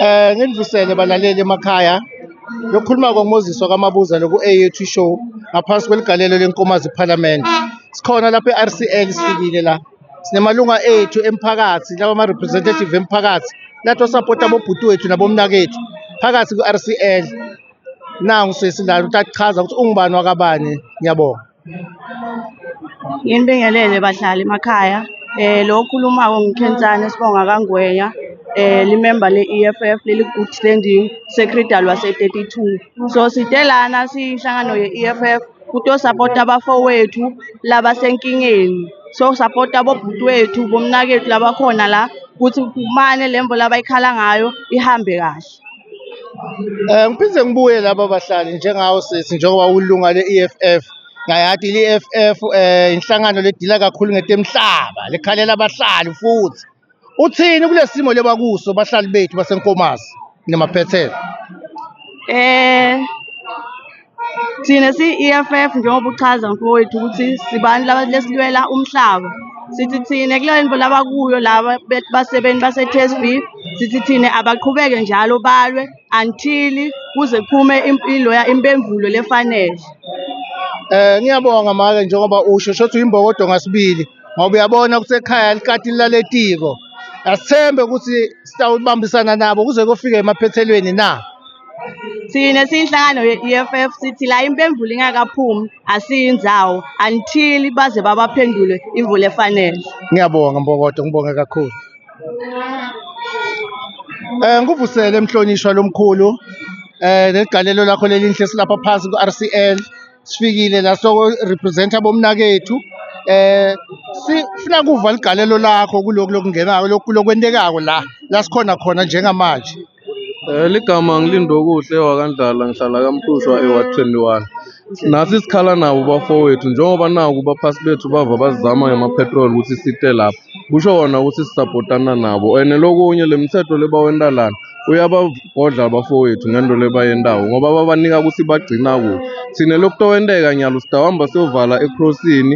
Eh nginivusele balaleli emakhaya lokukhuluma koMoses wakamabuza loku-AAT show ngaphansi kweligalelo lenkomazi parliament sikhona lapha e-RCL sifikile la sinemalunga ethu emphakathi lawa ama-representative emphakathi lathi osapota abobhuti wethu nabomnakethu phakathi ku-RCL nangu sesi la uthi akuchaza ukuthi ungubani wakabani ngiyabonga Nginibingelele bahlali emakhaya. Eh lo okhulumayo nguKhensani Sibonga kaNgwenya. Eh limember le-EFF leli good standing secretary wase-32. So side lana siyihlangano ye-EFF kutosapota abafowethu labasenkingeni. So sapota bobhuti wethu bomnakethu labakhona la ukuthi kumane le mvula abayikhala ngayo ihambe kahle. Um ngiphinde ngibuye laba bahlali njengawo sisi njengoba ulunga le-E_F_F, ngayati i-E_F_F um inhlangano ledila kakhulu ngetemhlaba, likhalela bahlali futhi. Uthini kule simo lebakuso bahlali bethu baseNkomazi namaphethelo? Thina siyi-EFF njengoba uchaza mfowethu ukuthi sibani laba lesilwela umhlaba. Sithi thina kule nto laba kuyo laba be- basebenzi base-TSB sithi thina abaqhubeke njalo balwe until kuze kuphume im- iloya impemvulo lefanele. Eh ngiyabonga make njengoba usho shothi uyimbokodo ngasibili ngoba uyabona ukuthi ekhaya likati laletiko. Asithembe ukuthi sitawubambisana nabo kuze kofika emaphethelweni na. Thina siyinhlangano ye-EFF sithi la impemvula ingakaphumi asiyinzawo until baze babaphendule imvula efanele. Ngiyabonga Mbokodo, ngibonge kakhulu. Eh ngikuvusele mhlonishwa lomkhulu eh negalelo lakho lelinhle silapha phansi ku-RCL sifikile la so represent abomnakethu eh sifuna kuva ligalelo lakho kuloko lokungenako lokhu lokwendekako la la sikhona khona njengamanje. Eh, ligama ngilindokuhle wakandlala ngihlala kamhlushwa eward 21 nathi sikhala nabo bafowethu njengoba naku baphasi bethu bava bazizama ngema-petrol ukuthi site lapha kusho wona ukuthi sisapotana nabo and lokunye le mthetho lebawenta lana uyabagodla abafowethu ngento lebayentako ngoba babanika ukuthi bagcina kuphi thina lokutowenteka nyalo sitawuhamba siyovala ekrosini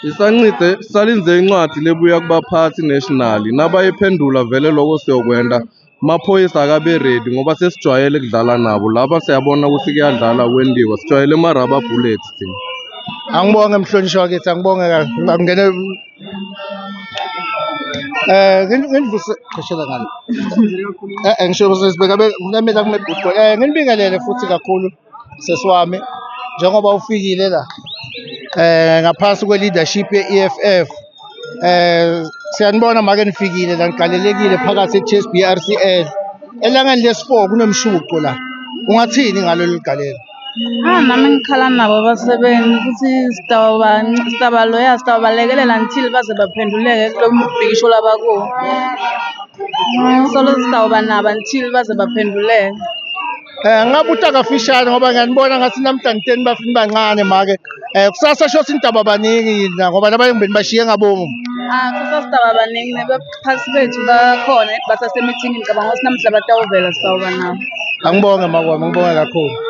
Sisancide sisalinze incwadi lebuya kubaphathi national nabayiphendula vele lokho siyokwenda amaphoyisa akabe ready ngoba sesijwayele kudlala nabo laba siyabona ukuthi kuyadlala kwendiwa sijwayele ama-rubber bullets thina angibonge mhlonishwa wakithi angibonge ngingene eh nginivuse qhashela ngani eh ngisho sibeka kunamela kumebhuti eh nginibingelele futhi kakhulu sesi wami njengoba ufikile la eh ngaphansi kwe-leadership ye-EFF eh siyanibona make nifikile la nigalelekile phakathi e-chess BRCL elangeni lesi-4 kunomshuqo la ungathini ngalolu galelo Ah, nami ngikhala nabo abasebenzi ukuthi sitabaloya sitabalekelela until baze baphenduleke kulo mbhikisho labakuwo solo sitawuba nabo until baze baphenduleke Eh ngabuta kafishane ngoba ngiyanibona ngathi namhlanje teni bafini bancane make. Eh kusasa shothi intaba baningi yini ngoba labanye ngibeni bashiye ngabomu. Ah, kusasa sidaba baningi nebaphathi bethu bakhona basasemithini ngicabanga ukuthi namhla batawuvela sitawuba nabo. Angibonge makwami, ngibonge kakhulu.